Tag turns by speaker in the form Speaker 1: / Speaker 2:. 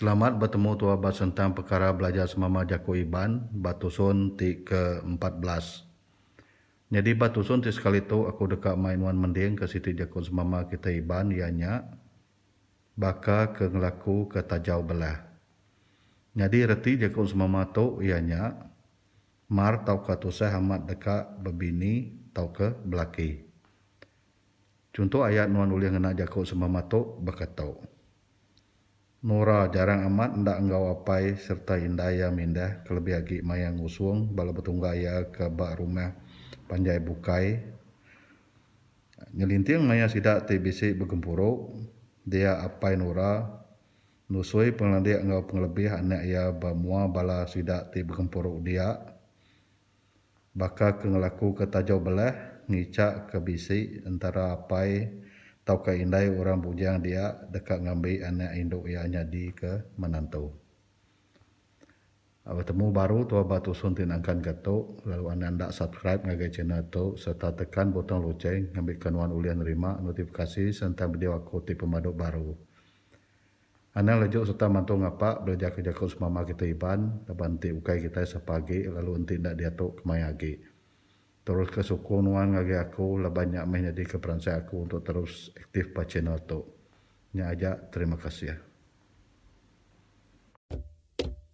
Speaker 1: Selamat betemu tua ba sentang pekara belajar semama jaku Iban ba tusun ti ke empat belas. Nyadi ba tusun ti sekali tu aku deka mai nuan mending ke siti jaku semama kitai Iban iya nya baka ke ngelaku ke tajau belah. Nyadi reti jaku semama tu iya nya. Mar tauka tusah amat deka bebini tauka belaki. Chunto ayat nuan ulih ngena jaku sembama tu baka tu. Nora jarang amat enda enggau apai sereta indai iya mindah kelebih agi maya ngusung bala betungga iya ke ba rumah panjai bukai ngelinting maya sida ti bisi begempuru dia apai Nora Nusui pengelandik enggau pengelebih anak iya ba mua bala sida ti begempuru dia, baka ke ngelakuka taja belah, ngichakka bisi entara apai tauka indai orang bujang dia deka ngambi anak indu iya nyadika menantu. A Betemu baru tua ba tusun ti nangkanka tu, lalu anang enda subscribe ngagai channel tu sereta tekan butong lucheng ngambika nuan ulih nerima notifikasi sentang video aku ti pemadu baru. Anang lejuk sereta mantu ngapa belajar ke jaku semama kitai Iban laban enti ukai kitai sapa agi lalu enti enda diatu kemaya agi. Teruska sukung nuan ngagai aku laban nya meh nyadika peransai aku untuk terus aktif ba channel tu. Nya aja terima kasih.